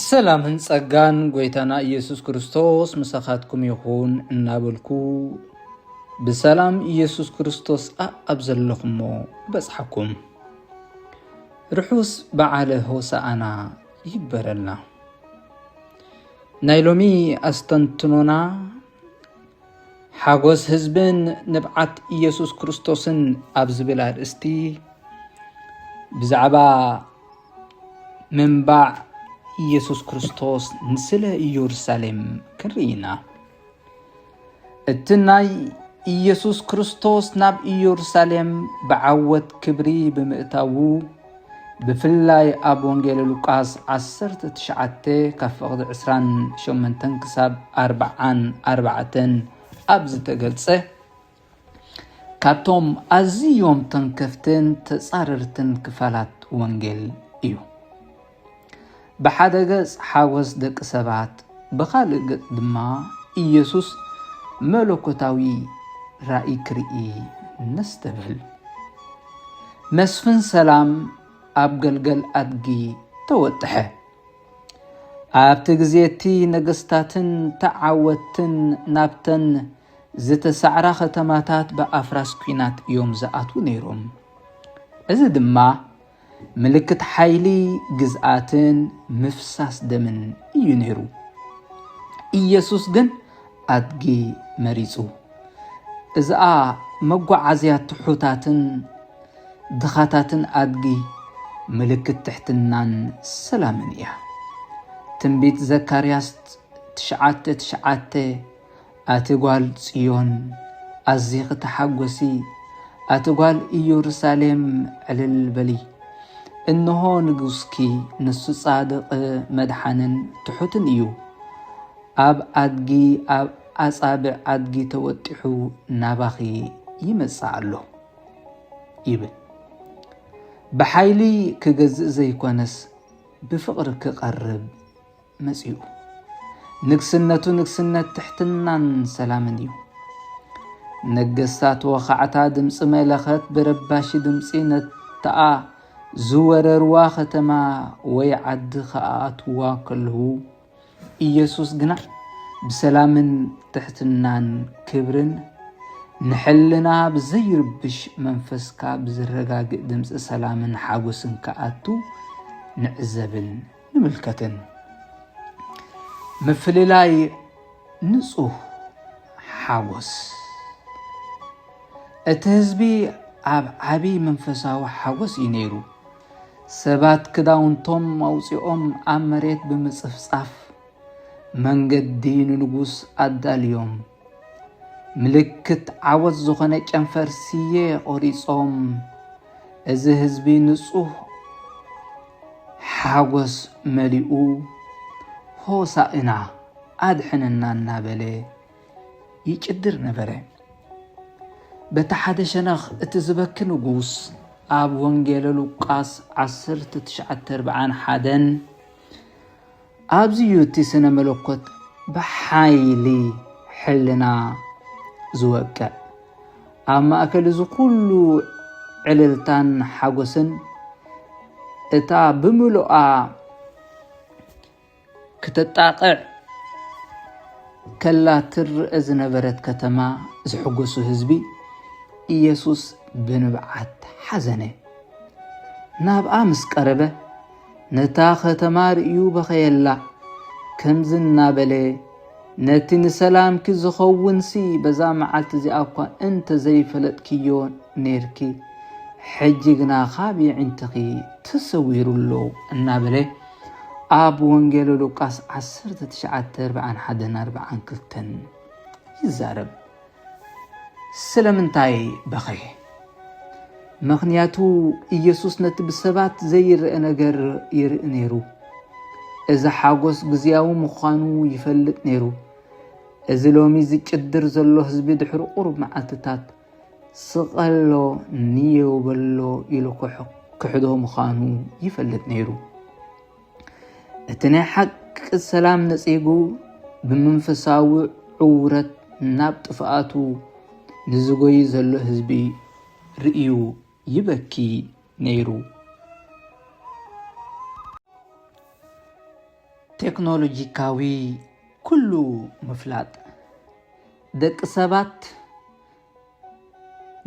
ሰላምን ጸጋን ጎይታና ኢየሱስ ክርስቶስ ምሳኻትኩም ይኹን እናበልኩ ብሰላም ኢየሱስ ክርስቶስ ኣብ ዘለኹሞ በጽሓኩም ርሑስ በዓለ ሆሳኣና ይበረልና። ናይ ሎሚ ኣስተንትኖና ሓጎስ ህዝብን ንብዓት ኢየሱስ ክርስቶስን ኣብ ዝብል ኣርእስቲ ብዛዕባ ምንባዕ ኢየሱስ ክርስቶስ ንስለ ኢየሩሳሌም ክንርኢ ኢና። እቲ ናይ ኢየሱስ ክርስቶስ ናብ ኢየሩሳሌም ብዓወት ክብሪ ብምእታዉ ብፍላይ ኣብ ወንጌል ሉቃስ 19 ካብ ፍቕዲ 28 ክሳብ 44 ኣብ ዝተገልጸ ካብቶም ኣዝዮም ተንከፍትን ተጻረርትን ክፋላት ወንጌል እዩ። ብሓደ ገጽ ሓጐስ ደቂ ሰባት፣ ብኻልእ ገጽ ድማ ኢየሱስ መለኮታዊ ራእይ ክርኢ ነስተብህል። መስፍን ሰላም ኣብ ገልገል ኣድጊ ተወጥሐ። ኣብቲ ግዜ እቲ ነገስታትን ተዓወትን ናብተን ዝተሳዕራ ከተማታት ብኣፍራስ ኲናት እዮም ዝኣትዉ ነይሮም። እዚ ድማ ምልክት ሓይሊ ግዝኣትን ምፍሳስ ደምን እዩ ነይሩ። ኢየሱስ ግን ኣድጊ መሪጹ። እዝኣ መጓዓዝያ ትሑታትን ድኻታትን ኣድጊ ምልክት ትሕትናን ሰላምን እያ። ትንቢት ዘካርያስ ትሽዓተ ትሽዓተ ኣቲ ጓል ጽዮን ኣዚኺ ተሓጐሲ፣ ኣቲ ጓል ኢየሩሳሌም ዕልል በሊ። እንሆ ንጉስኪ፣ ንሱ ጻድቕ፣ መድሓንን ትሑትን እዩ፣ ኣብ ኣድጊ፣ ኣብ ኣጻብዕ ኣድጊ ተወጢሑ ናባኺ ይመጽእ ኣሎ ይብል። ብሓይሊ ክገዝእ ዘይኮነስ ብፍቕሪ ክቐርብ መጺኡ። ንግስነቱ ንግስነት ትሕትናን ሰላምን እዩ። ነገስታት ወኻዕታ ድምፂ መለኸት ብረባሺ ድምፂ ነተኣ ዝወረርዋ ከተማ ወይ ዓዲ ከኣኣትዋ ከለዉ ኢየሱስ ግና ብሰላምን ትሕትናን ክብርን ንሕልና ብዘይርብሽ መንፈስካ ብዝረጋግእ ድምፂ ሰላምን ሓጎስን ክኣቱ ንዕዘብን ንምልከትን ምፍልላይ ንፁህ ሓጎስ እቲ ህዝቢ ኣብ ዓብዪ መንፈሳዊ ሓጎስ እዩ ነይሩ። ሰባት ክዳውንቶም ኣውፂኦም ኣብ መሬት ብምፅፍፃፍ መንገዲ ንንጉስ ኣዳልዮም ምልክት ዓወት ዝኾነ ጨንፈር ስየ ቆሪጾም እዚ ህዝቢ ንጹህ ሓጎስ መሊኡ ሆሳእና ኣድሕነና እናበለ ይጭድር ነበረ። በቲ ሓደ ሸነኽ እቲ ዝበኪ ንጉስ ኣብ ወንጌለ ሉቃስ 1941 ኣብዚ ዩ እቲ ስነ መለኮት ብሓይሊ ሕልና ዝወቅዕ። ኣብ ማእከል እዚ ኩሉ ዕልልታን ሓጎስን እታ ብምሉኣ ክተጣቕዕ ከላ ትርእ ዝነበረት ከተማ ዝሕጎሱ ህዝቢ ኢየሱስ ብንብዓት ሓዘነ። ናብኣ ምስ ቀረበ ነታ ኸተማ ርእዩ በኸየላ፣ ከምዚ እናበለ ነቲ ንሰላምኪ ዝኸውንሲ በዛ መዓልቲ እዚኣ እኳ እንተ ዘይፈለጥክዮ ኔርኪ፣ ሕጂ ግና ኻብ የዒንትኺ ተሰዊሩ ኣሎ እናበለ ኣብ ወንጌል ሉቃስ ዓሰርተ ትሽዓተ ኣርብዓን ሓደን ኣርብዓን ክልተን ይዛረብ። ስለምንታይ በኸየ? ምኽንያቱ ኢየሱስ ነቲ ብሰባት ዘይርአ ነገር ይርኢ ነይሩ። እዚ ሓጎስ ግዝያዊ ምዃኑ ይፈልጥ ነይሩ። እዚ ሎሚ ዝጭድር ዘሎ ህዝቢ ድሕሪ ቁሩብ መዓልትታት ስቐሎ ንየው በሎ ኢሉ ክሕዶ ምዃኑ ይፈልጥ ነይሩ። እቲ ናይ ሓቂ ሰላም ነጺጉ ብመንፈሳዊ ዕውረት ናብ ጥፍኣቱ ንዝጎይ ዘሎ ህዝቢ ርእዩ ይበኪ ነይሩ። ቴክኖሎጂካዊ ኩሉ ምፍላጥ ደቂ ሰባት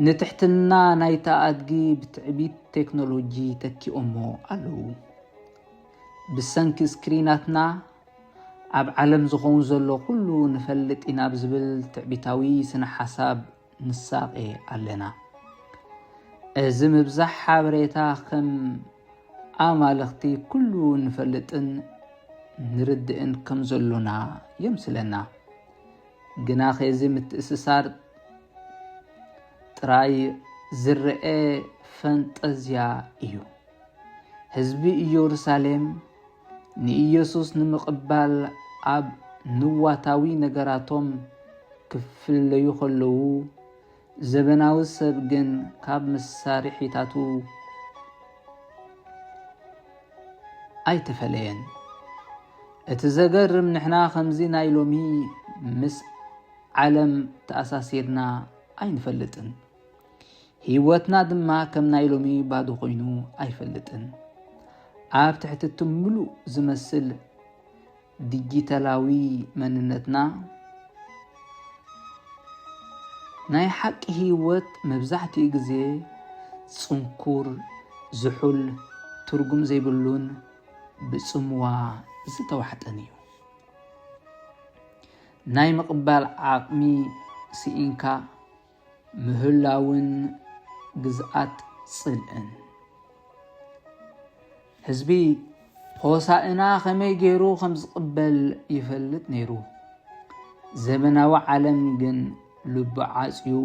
ንትሕትና ናይታ ኣድጊ ብትዕቢት ቴክኖሎጂ ተኪኦሞ ኣለዉ። ብሰንኪ ስክሪናትና ኣብ ዓለም ዝኸውን ዘሎ ኩሉ ንፈልጥ ኢና ብዝብል ትዕቢታዊ ስነ ሓሳብ ንሳቐ ኣለና። እዚ ምብዛሕ ሓበሬታ ከም ኣማልኽቲ ኩሉ ንፈልጥን ንርድእን ከም ዘሎና የምስለና። ግናኸ እዚ ምትእስሳር ጥራይ ዝረኤ ፈንጠዝያ እዩ። ህዝቢ ኢየሩሳሌም ንኢየሱስ ንምቕባል ኣብ ንዋታዊ ነገራቶም ክፍለዩ ከለዉ፣ ዘበናዊ ሰብ ግን ካብ መሳርሒታቱ ኣይተፈለየን። እቲ ዘገርም ንሕና ከምዚ ናይ ሎሚ ምስ ዓለም ተኣሳሲርና ኣይንፈልጥን። ህይወትና ድማ ከም ናይ ሎሚ ባዶ ኮይኑ ኣይፈልጥን። ኣብ ትሕቲ እቲ ምሉእ ዝመስል ዲጂታላዊ መንነትና፣ ናይ ሓቂ ህይወት መብዛሕትኡ ግዜ ጽንኩር፣ ዝሑል፣ ትርጉም ዘይብሉን ብጽምዋ ዝተዋሕጠን እዩ። ናይ ምቕባል ዓቕሚ ስኢንካ፣ ምህላውን ግዝኣት ጽልእን ህዝቢ ሆሳእና ከመይ ገይሩ ከም ዝቕበል ይፈልጥ ነይሩ። ዘበናዊ ዓለም ግን ልቢ ዓፅዩ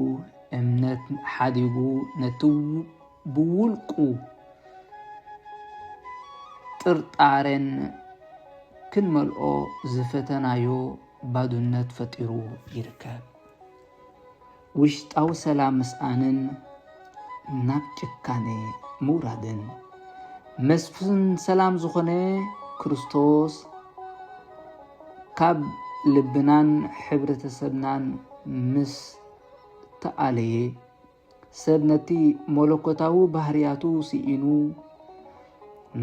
እምነት ሓዲጉ ነቲ ብውልቁ ጥርጣሬን ክንመልኦ ዝፈተናዮ ባዱነት ፈጢሩ ይርከብ። ውሽጣዊ ሰላም ምስኣንን ናብ ጭካነ ምውራድን መስፍን ሰላም ዝኾነ ክርስቶስ ካብ ልብናን ሕብረተሰብናን ምስ ተኣለየ ሰብ ነቲ መለኮታዊ ባህርያቱ ስኢኑ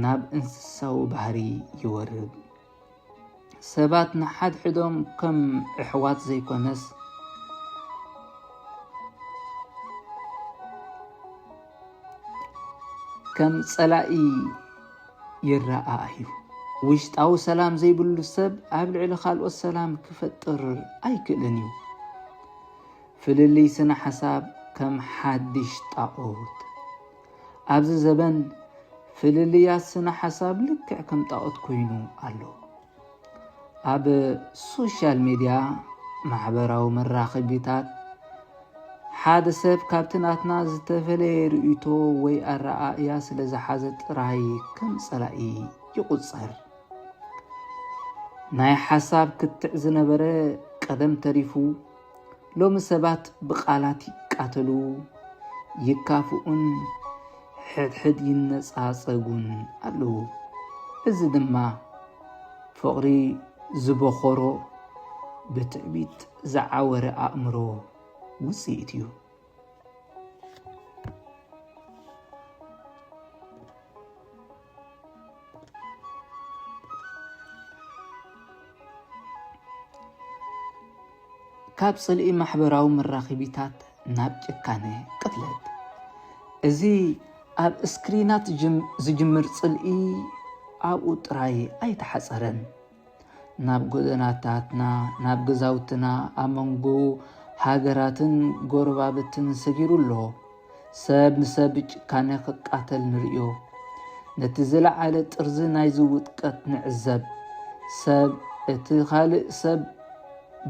ናብ እንስሳዊ ባህሪ ይወርድ። ሰባት ንሓድሕዶም ከም ኣሕዋት ዘይኮነስ ከም ጸላኢ ይረኣዩ። ውሽጣዊ ሰላም ዘይብሉ ሰብ ኣብ ልዕሊ ካልኦት ሰላም ክፈጥር ኣይክእልን እዩ። ፍልልይ ስነ ሓሳብ ከም ሓድሽ ጣኦት። ኣብዚ ዘበን ፍልልያት ስነ ሓሳብ ልክዕ ከም ጣኦት ኮይኑ ኣሎ። ኣብ ሶሻል ሚድያ ማሕበራዊ መራኸቢታት ሓደ ሰብ ካብቲ ናትና ዝተፈለየ ርእይቶ ወይ ኣረኣእያ ስለ ዝሓዘ ጥራይ ከም ጸላኢ ይቑጸር። ናይ ሓሳብ ክትዕ ዝነበረ ቀደም ተሪፉ ሎሚ ሰባት ብቃላት ይቃተሉ፣ ይካፍኡን ሕድሕድ ይነጻጸጉን ኣለዉ። እዚ ድማ ፍቕሪ ዝቦኾሮ ብትዕቢት ዝዓወረ ኣእምሮ ውጽኢት እዩ። ካብ ጽልኢ ማሕበራዊ መራኺቢታት ናብ ጭካነ ቅትለት እዚ ኣብ እስክሪናት ዝጅምር ጽልኢ ኣብኡ ጥራይ ኣይተሓጸረን። ናብ ጎደናታትና ናብ ገዛውትና ኣብ መንጎ ሃገራትን ጎረባብትን ሰጊሩ ኣሎ ሰብ ንሰብ ጭካነ ክቃተል ንርእዮ ነቲ ዝለዓለ ጥርዚ ናይዚ ውጥቀት ንዕዘብ ሰብ እቲ ካልእ ሰብ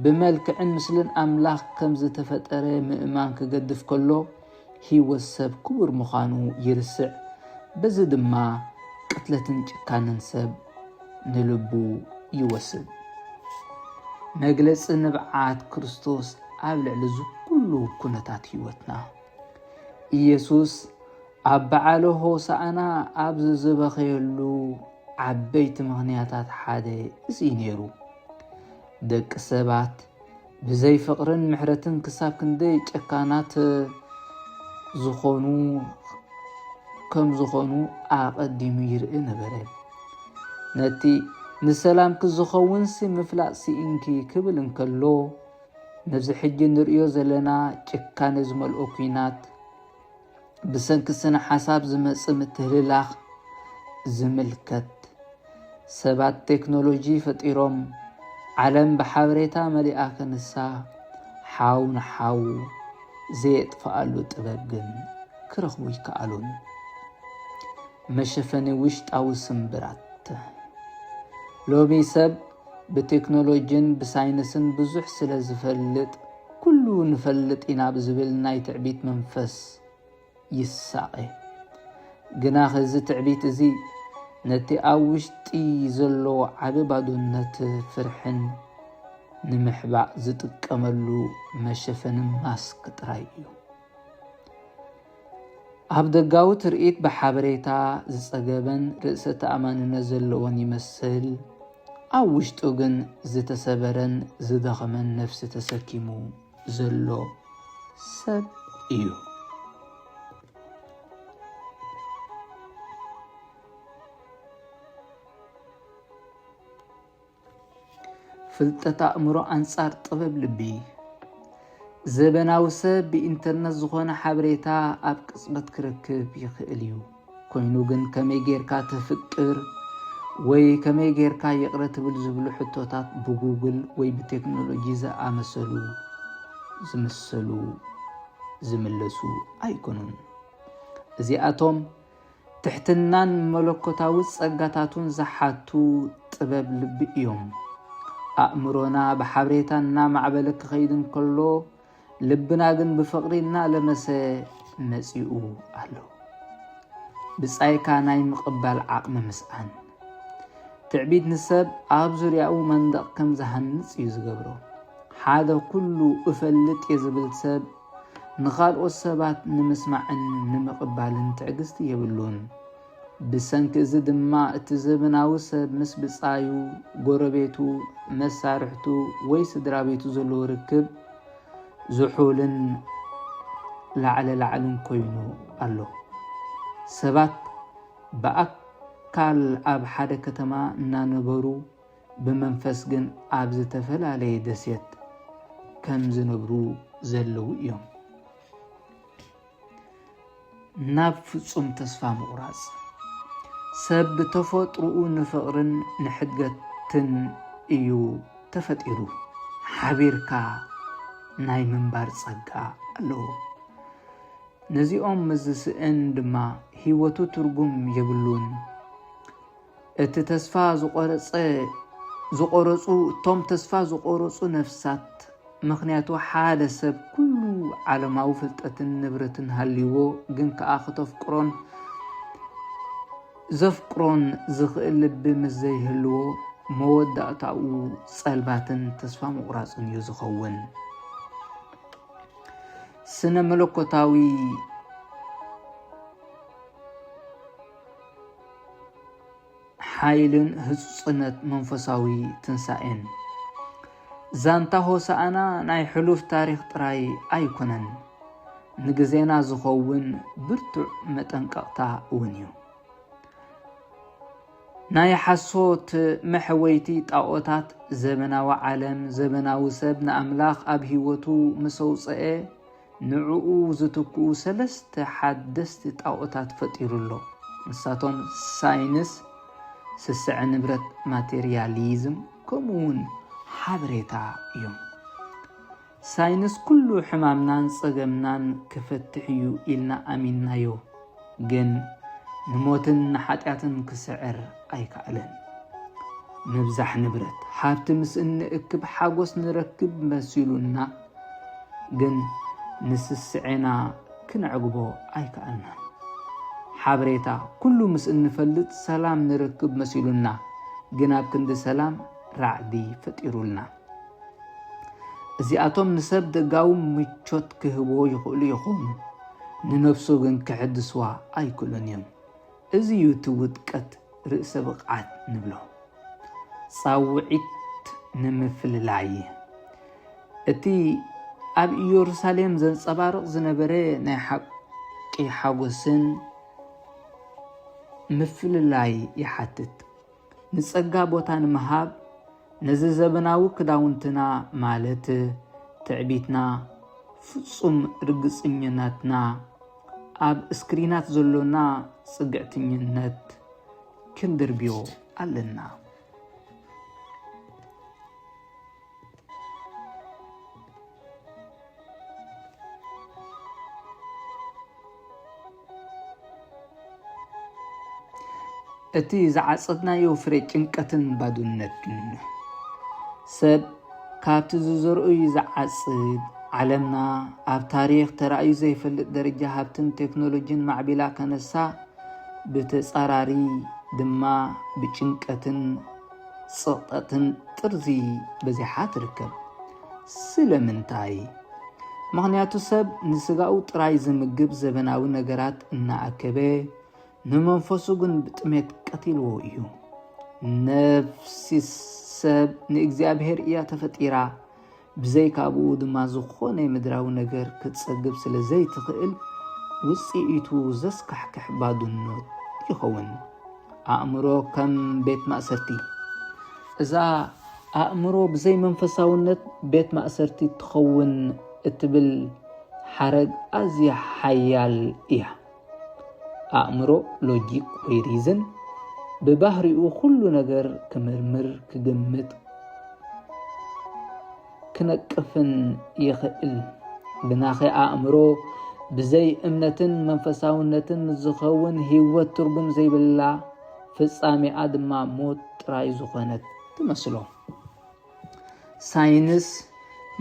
ብመልክዕን ምስልን ኣምላኽ ከም ዝተፈጠረ ምእማን ክገድፍ ከሎ ህይወት ሰብ ክቡር ምዃኑ ይርስዕ፣ በዚ ድማ ቅትለትን ጭካነን ሰብ ንልቡ ይወስድ። መግለጺ ንብዓት ክርስቶስ ኣብ ልዕሊ እዚ ኩሉ ኩነታት ህይወትና ኢየሱስ ኣብ በዓለ ሆሳእና ኣብ ዝዝበኸየሉ ዓበይቲ ምኽንያታት ሓደ እዚ ነይሩ። ደቂ ሰባት ብዘይ ፍቅርን ምሕረትን ክሳብ ክንደይ ጨካናት ዝኾኑ ከም ዝኾኑ ኣቐዲሙ ይርኢ ነበረ። ነቲ ንሰላምኪ ዝኸውንሲ ምፍላጥ ስኢንኪ ክብል እንከሎ ነዚ ሕጂ ንርእዮ ዘለና ጭካነ ዝመልኦ ኩናት ብሰንኪ ስነ-ሓሳብ ዝመጽእ ምትህልላኽ ዝምልከት፣ ሰባት ቴክኖሎጂ ፈጢሮም ዓለም ብሓበሬታ መሊኣ ክንሳ፣ ሓው ንሓው ዘየጥፍኣሉ ጥበብ ግን ክረኽቡ ኣይከኣሉን። መሸፈኒ ውሽጣዊ ስምብራት ሎሚ ሰብ ብቴክኖሎጂን ብሳይንስን ብዙሕ ስለ ዝፈልጥ፣ ኩሉ ንፈልጥ ኢና ብዝብል ናይ ትዕቢት መንፈስ ይሳቐ። ግናኸ እዚ ትዕቢት እዚ ነቲ ኣብ ውሽጢ ዘሎ ዓቢ ባዶነት፣ ፍርሕን ንምሕባእ ዝጥቀመሉ መሸፈኒ ማስክ ጥራይ እዩ። ኣብ ደጋዊ ትርኢት ብሓበሬታ ዝጸገበን ርእሰ ተኣማንነት ዘለዎን ይመስል፣ ኣብ ውሽጡ ግን ዝተሰበረን ዝደኸመን ነፍሲ ተሰኪሙ ዘሎ ሰብ እዩ። ፍልጠት ኣእምሮ ኣንጻር ጥበብ ልቢ ዘበናዊ ሰብ ብኢንተርነት ዝኾነ ሓበሬታ ኣብ ቅጽበት ክረክብ ይኽእል እዩ። ኮይኑ ግን ከመይ ጌርካ ተፍቅር ወይ ከመይ ጌርካ ይቕረ ትብል ዝብሉ ሕቶታት ብጉግል ወይ ብቴክኖሎጂ ዝኣመሰሉ ዝምሰሉ ዝምለሱ ኣይኮኑን እዚኣቶም ትሕትናን መለኮታዊ ጸጋታቱን ዝሓቱ ጥበብ ልቢ እዮም። ኣእምሮና ብሓብሬታ እናማዕበለ ክኸይድ እንከሎ፣ ልብና ግን ብፍቕሪ እናለመሰ መጺኡ ኣሎ። ብጻይካ ናይ ምቕባል ዓቕሚ ምስኣን ትዕቢት ንሰብ ኣብ ዙርያኡ መንደቕ ከም ዝሃንጽ እዩ ዝገብሮ። ሓደ ኩሉ እፈልጥ እየ ዝብል ሰብ ንኻልኦት ሰባት ንምስማዕን ንምቕባልን ትዕግስቲ የብሉን። ብሰንኪ እዚ ድማ እቲ ዘበናዊ ሰብ ምስ ብጻዩ፣ ጎረቤቱ፣ መሳርሕቱ ወይ ስድራቤቱ ዘለዎ ርክብ ዝሑልን ላዕለ ላዕልን ኮይኑ ኣሎ። ሰባት ብኣካል ኣብ ሓደ ከተማ እናነበሩ ብመንፈስ ግን ኣብ ዝተፈላለየ ደሴት ከም ዝነብሩ ዘለዉ እዮም። ናብ ፍጹም ተስፋ ምቑራጽ ሰብ ብተፈጥሮኡ ንፍቕርን ንሕድገትን እዩ ተፈጢሩ። ሓቢርካ ናይ ምንባር ጸጋ ኣለዎ። ነዚኦም ምስ ዝስእን ድማ ህይወቱ ትርጉም የብሉን። እቲ ተስፋ ዝቆረጸ ዝቆረጹ እቶም ተስፋ ዝቆረጹ ነፍሳት ምክንያቱ ሓደ ሰብ ኩሉ ዓለማዊ ፍልጠትን ንብረትን ሃልይዎ ግን ከኣ ክተፍቅሮን ዘፍቅሮን ዝኽእል ልቢ ምስ ዘይህልዎ መወዳእታኡ ጸልማትን ተስፋ ምቑራጽን እዩ ዝኸውን። ስነ መለኮታዊ ሓይልን ህጹጽነት መንፈሳዊ ትንሳኤን። ዛንታ ሆሳዕና ናይ ሕሉፍ ታሪኽ ጥራይ ኣይኮነን፣ ንግዜና ዝኸውን ብርቱዕ መጠንቀቕታ እውን እዩ። ናይ ሓሶት መሕወይቲ ጣዖታት ዘበናዊ ዓለም ዘበናዊ ሰብ ንኣምላኽ ኣብ ህይወቱ ምስ ኣውፀኤ ንዕኡ ዝትክኡ ሰለስተ ሓደስቲ ጣኦታት ፈጢሩ ኣሎ፣ ንሳቶም ሳይንስ፣ ስስዐ ንብረት፣ ማተርያሊዝም፣ ከምኡውን ሓበሬታ እዮም። ሳይንስ ኩሉ ሕማምናን ጸገምናን ክፈትሕ እዩ ኢልና ኣሚንናዮ፣ ግን ንሞትን ንሓጢኣትን ክስዕር ኣይከኣለን። ምብዛሕ ንብረት፣ ሃብቲ ምስ እንእክብ ሓጎስ ንረክብ መሲሉና፣ ግን ንስስዔና ክነዕግቦ ኣይከኣልናን። ሓበሬታ ኩሉ ምስ እንፈልጥ ሰላም ንረክብ መሲሉና ግን ኣብ ክንዲ ሰላም ራዕዲ ፈጢሩልና። እዚኣቶም ንሰብ ደጋዊ ምቾት ክህብዎ ይኽእሉ ይኾኑ፣ ንነብሱ ግን ክሕድስዋ ኣይክእሉን እዮም። እዚ እዩ እቲ ውድቀት ርእሰ ብቕዓት ንብሎ። ጻውዒት ንምፍልላይ እቲ ኣብ ኢየሩሳሌም ዘንጸባርቕ ዝነበረ ናይ ሓቂ ሓጐስን ምፍልላይ ይሓትት። ንጸጋ ቦታ ንምሃብ ነዚ ዘበናዊ ክዳውንትና ማለት ትዕቢትና ፍጹም ርግጽኝነትና ኣብ እስክሪናት ዘሎና ጽግዕትኝነት ክንድርብዮ ኣለና። እቲ ዝዓጸድናዮ ፍረ ጭንቀትን ባዶነትን እዩ። ሰብ ካብቲ ዝዘርኡ እዩ ዝዓጽድ። ዓለምና ኣብ ታሪኽ ተራእዩ ዘይፈልጥ ደረጃ ሃብትን ቴክኖሎጂን ማዕቢላ ከነሳ ብተጻራሪ ድማ ብጭንቀትን ጽቕጠትን ጥርዚ በዚሓ ትርከብ። ስለምንታይ? ምኽንያቱ ሰብ ንስጋኡ ጥራይ ዝምግብ ዘበናዊ ነገራት እናኣከበ ንመንፈሱ ግን ብጥሜት ቀቲልዎ እዩ። ነፍሲ ሰብ ንእግዚኣብሔር እያ ተፈጢራ። ብዘይካ ብኡ ድማ ዝኾነ ምድራዊ ነገር ክትጸግብ ስለ ዘይትኽእል፣ ውጽኢቱ ዘስካሕክሕ ባዱኖት ይኸውን። ኣእምሮ ከም ቤት ማእሰርቲ። እዛ ኣእምሮ ብዘይ መንፈሳውነት ቤት ማእሰርቲ ትኸውን እትብል ሓረግ ኣዝያ ሓያል እያ። ኣእምሮ ሎጂክ ወይ ሪዝን ብባህሪኡ ኩሉ ነገር ክምርምር ክግምት ክነቅፍን ይኽእል ብናኸ ኣእምሮ ብዘይ እምነትን መንፈሳውነትን ዝኸውን ህይወት ትርጉም ዘይብላ ፍጻሜኣ ድማ ሞት ጥራይ ዝኾነት ትመስሎ ሳይንስ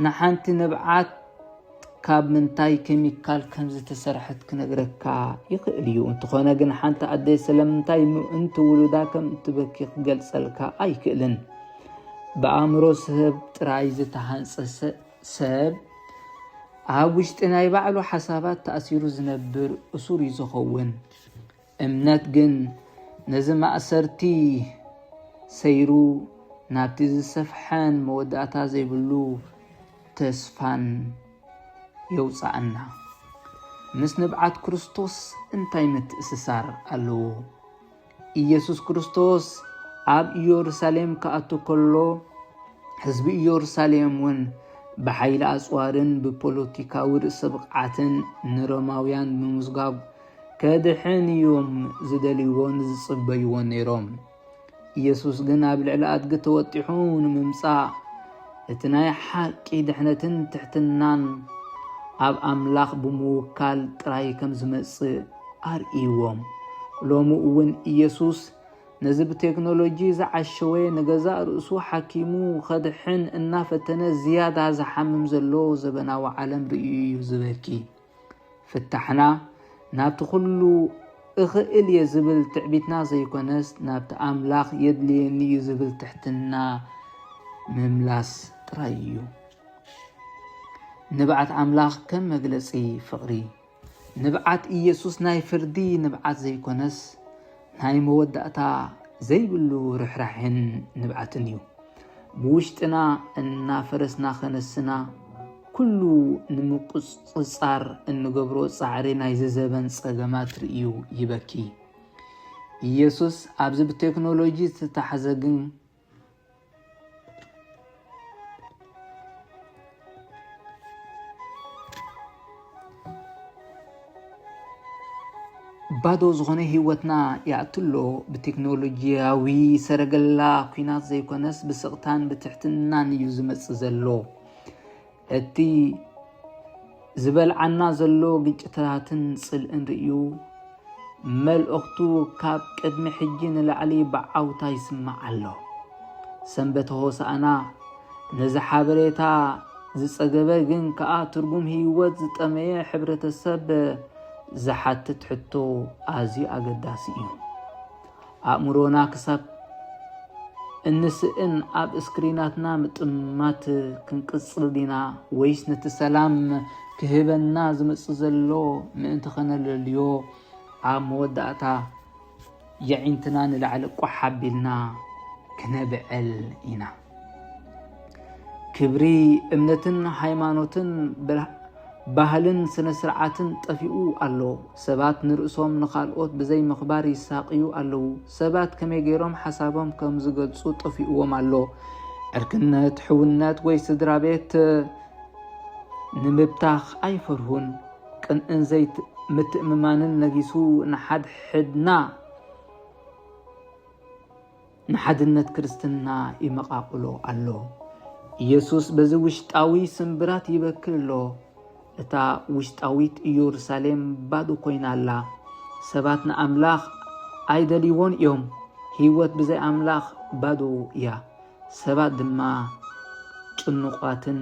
ንሓንቲ ንብዓት ካብ ምንታይ ኬሚካል ከም ዝተሰርሐት ክነግረካ ይኽእል እዩ። እንተኾነ ግን ሓንቲ ኣደ ስለምንታይ ምእንቲ ውሉዳ ከም እትበኪ ክገልጸልካ ኣይክእልን። ብኣእምሮ ሰብ ጥራይ ዝተሃንጸ ሰብ ኣብ ውሽጢ ናይ ባዕሉ ሓሳባት ተኣሲሩ ዝነብር እሱር እዩ ዝኸውን። እምነት ግን ነዚ ማእሰርቲ ሰይሩ ናብቲ ዝሰፍሐን መወዳእታ ዘይብሉ ተስፋን የውጽኣና። ምስ ንብዓት ክርስቶስ እንታይ ምትእስሳር ኣለዎ? ኢየሱስ ክርስቶስ ኣብ ኢየሩሳሌም ክኣቱ ከሎ ህዝቢ ኢየሩሳሌም እውን ብሓይሊ ኣጽዋርን ብፖለቲካዊ ርእሰ ብቕዓትን ንሮማውያን ምምዝጋብ ከድሕን እዮም ዝደልይዎን ዝጽበይዎን ነይሮም። ኢየሱስ ግን ኣብ ልዕሊ ኣድጊ ተወጢሑ ንምምጻእ እቲ ናይ ሓቂ ድሕነትን ትሕትናን ኣብ ኣምላኽ ብምውካል ጥራይ ከም ዝመጽእ ኣርእይዎም። ሎሚ እውን ኢየሱስ ነዚ ብቴክኖሎጂ ዝዓሸወ ንገዛእ ርእሱ ሓኪሙ ኸድሕን እናፈተነ ዝያዳ ዝሓምም ዘሎ ዘበናዊ ዓለም ርእዩ እዩ ዝበኪ። ፍታሕና ናብቲ ኩሉ እኽእል እየ ዝብል ትዕቢትና ዘይኮነስ ናብቲ ኣምላኽ የድልየኒ እዩ ዝብል ትሕትና ምምላስ ጥራይ እዩ። ንብዓት ኣምላኽ ከም መግለጺ ፍቕሪ ንብዓት ኢየሱስ ናይ ፍርዲ ንብዓት ዘይኮነስ ናይ መወዳእታ ዘይብሉ ርኅራሕን ንብዓትን እዩ። ብውሽጥና እናፈረስና ኸነስና ኩሉ ንምቁጽጻር እንገብሮ ጻዕሪ ናይዚ ዘበን ጸገማት ርእዩ ይበኪ። ኢየሱስ ኣብዚ ብቴክኖሎጂ ዝተታሕዘ ግን ባዶ ዝኾነ ህይወትና ይኣትሎ ብቴክኖሎጂያዊ ሰረገላ ኩናት ዘይኮነስ ብስቕታን ብትሕትናን እዩ ዝመጽእ ዘሎ እቲ ዝበልዓና ዘሎ ግጭታትን ጽልእን ርእዩ መልእኽቱ ካብ ቅድሚ ሕጂ ንላዕሊ ብዓውታ ይስማዕ ኣሎ። ሰንበተ ሆሳእና ነዚ ሓበሬታ ዝጸገበ ግን ከኣ ትርጉም ህይወት ዝጠመየ ሕብረተሰብ ዝሓትት ሕቶ ኣዝዩ ኣገዳሲ እዩ። ኣእምሮና ክሳብ እንስእን ኣብ እስክሪናትና ምጥማት ክንቅጽል ዲና ወይስ ነቲ ሰላም ክህበና ዝመጽእ ዘሎ ምእንቲ ከነለልዮ ኣብ መወዳእታ የዒንትና ንላዕሊ ቋሕ ኣቢልና ክነብዕል ኢና። ክብሪ እምነትን ሃይማኖትን ባህልን ስነ ስርዓትን ጠፊኡ ኣሎ። ሰባት ንርእሶም ንኻልኦት ብዘይ ምኽባር ይሳቅዩ ኣለዉ። ሰባት ከመይ ገይሮም ሓሳቦም ከም ዝገልጹ ጠፊኡዎም ኣሎ። ዕርክነት፣ ሕውነት ወይ ስድራ ቤት ንምብታኽ ኣይፈርሁን። ቅንእን ዘይት ምትእምማንን ነጊሱ ንሓድሕድና ንሓድነት ክርስትና ይመቓቕሎ ኣሎ። ኢየሱስ በዚ ውሽጣዊ ስምብራት ይበክል ኣሎ። እታ ውሽጣዊት ኢየሩሳሌም ባዶ ኮይና ኣላ። ሰባት ንኣምላኽ ኣይደልይዎን እዮም። ህይወት ብዘይ ኣምላኽ ባዶ እያ። ሰባት ድማ ጭኑቋትን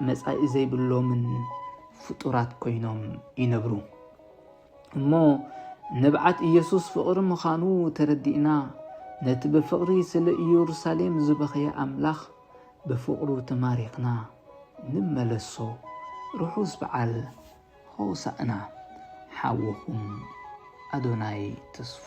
መጻኢ ዘይብሎምን ፍጡራት ኮይኖም ይነብሩ። እሞ ንብዓት ኢየሱስ ፍቕሪ ምዃኑ ተረዲእና ነቲ ብፍቕሪ ስለ ኢየሩሳሌም ዝበኸየ ኣምላኽ ብፍቕሩ ተማሪኽና ንመለሶ። ርሑስ በዓል ሆሳእና! ሓውኹም ኣዶናይ ተስፉ